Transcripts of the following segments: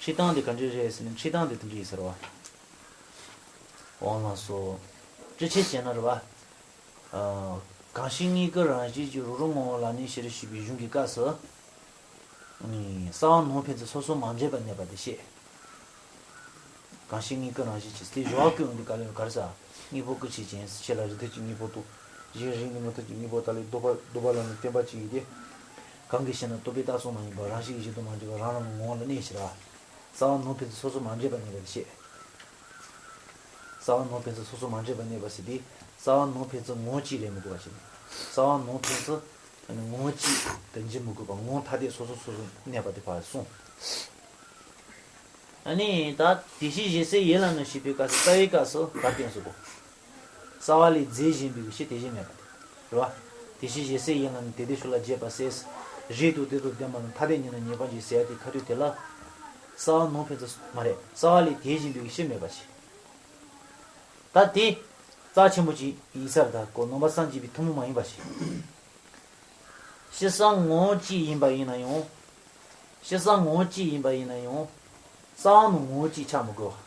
ཕྱི་དང་དེ་ག་འདྲི་རེད་ཟེར་ན་ཕྱི་དང་དེ་ད་འདྲི་ཟེར་བ། འོང་ལགས་སོ། ཅི་བྱེད་ཅེ་ན་རེ་བ། གང་ཞིག་གཉིས་ཀ་རང་བཞིན་གྱིས་རུ་རུ་ངོ་ངོ་ལ་ནི་ཤི་རུ་ཤི་བའི་གཞུང་གི་སྐབས་སུ། ས་བ་ནོར་ཕན་ཚུན་སོ་སོ་མ་འདྲེས་པར་གནས་པ་དེ་བཤད། གང་ཞིག་གཉིས་ཀ་རང་བཞིན་གྱིས་དེ་གཞོག་གི་ཨུན་གྱི་དཀའ་ལས་གར་ས་གཉིས་པོ་ཀུ་བྱེད་ཅན་ཟེར་ཁྱེད་ལ་རི་ཐུར་གྱི་གཉིས་པོ་ཏུ་གཞན་རིགས་ནི་མུ་ཐུར་གྱི་གཉིས་པོ་ད་ལས་བསྡུ་བ་བསྡུ་བ་ལ་ནི་བསྟན་པ་ཅི་ཡོད་དེ། གང་གིས་ཤེ་ན་རྟོག་གེའི་རྟགས་སོགས་མ་ཡིན་པར་རང་བཞིན་གྱི་གཞི་དུ་མ་འདྲེས་པར་རང་རང་གི་ངོ་བོ་ལ་གནས་ཕྱིར། ས་བ་ནོར་འཕེན་ཚེ་སོ་སོར་མ་འདྲེས་པར་གནས་པ་དེ་ཤེས། ས་བ་ནོར་འཕེན་ཚེ་སོ་སོར་མ་འདྲེས་པར་གནས་པ་ཤེས་ཏེ། ས་བ་ནོར་འཕེན་ཚེ་ངོ་བོ་གཅིག་ལས་མི་གོ་བ་ཤེས། ས་བ་ནོར་འཕེན་ཚེ། ངོ་བོ་གཅིག་དང་གཅིག་མི་དགོས་པར་ངོ་བོ་ཐ་དད་སོ་སོར་སོ་སོར་གནས་པ་དེ་བར་གསུངས། ད་དེ་བཞིན་གཞི་སའི་ཡེ་ལ་ནོ་ཞེས་པའི་སྐབས་སུ་རྩ་བའི་སྐབས་སུ་བར་བསྟན་སོགས། རྩ་བ་ལས་རྫས་གཞན་པའི་ཕྱིར་དེ་བཞིན་མེད་པ་སྟེ། རེ་བ། དེ་བཞིན་གཞན་སའི་ཡིན་ལ་ནི་དེ་དེ་ཤུགས་ལ་རྒྱས་པར་ཟད། རེད་དོ་དེ་དང་ལྡན་པ་ན་ཐ་དད་ཉིད་ནི་ངེས་པར་འབྱེད་ཟད་དེ་ཁ་དོད་དེ་ལ། རྩ་བ་ནང་ཕན་ཚུན། མ་རེད། རྩ་བ་ལས་དེ་བཞིན་པའི་ཕྱིར་མེད་པར་བྱེད། ད་དེ། རྩ་ཆེན་པོ་གཅིག་ཡིན་སར་དག་གོ་ནོམ་པ་སངས་རྒྱས་པའི་ཐུན་མོང་མ་ཡིན་པར་བྱེད། ཕྱི་སངས་ངོ་བོ་གཅིག་ཡིན་པ་ཡིན་ན་ཡང། ཕྱི་སངས་ངོ་བོ་གཅིག་ཡིན་པ་ཡིན་ན་ཡང། རྩ་བ་ནང་ངོ་བོ་གཅིག་ཆགས་མི་དགོས་པ།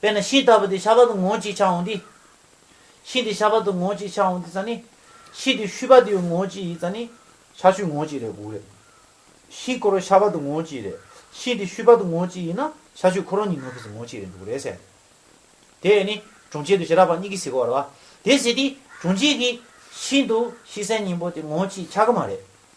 དཔེར་ན་ཤིང་རྟ་བུ་དེ་ཤ་བ་དུ་ངོ་གཅིག་ཆགས་འོང་དུས། ཤིང་དེ་ཤ་བ་དུ་ངོ་གཅིག་ཆགས་འོང་དུས་ས་ནི། ཤིང་དེ་ཤུད་པ་དུ་ངོ་གཅིག་ཡིན་ས་ནི། ཤ་ཤུད་ངོ་གཅིག་རེད་དགུག་རེད། ཤིང་ཁོ་རོ་ཤ་བ་དུ་ངོ་གཅིག་རེད། ཤིང་དེ་ཤུད་པ་དུ་ངོ་གཅིག་ཡིན་ན་ཤ་ཤུད་ཁོ་རོ་གཉིས་ནོ་ཕིས་ངོ་གཅིག་རེད་འདུག་རེད་ཟེར། དེས་ནི་གྲོང་ཁྱེར་དུ་ཞེ་དྲག་པ་གཉིས་ཀྱིས་ཟིག་གོ་ར་བ་དེས་ཟིག་དུས་གྲོང་ཁྱེར་གྱིས་ཤིང་དུ་ཤི་སའི་སྙིང་པོ་དེ་ངོ་གཅིག་ཆགས་ཀྱི་མ་རེད།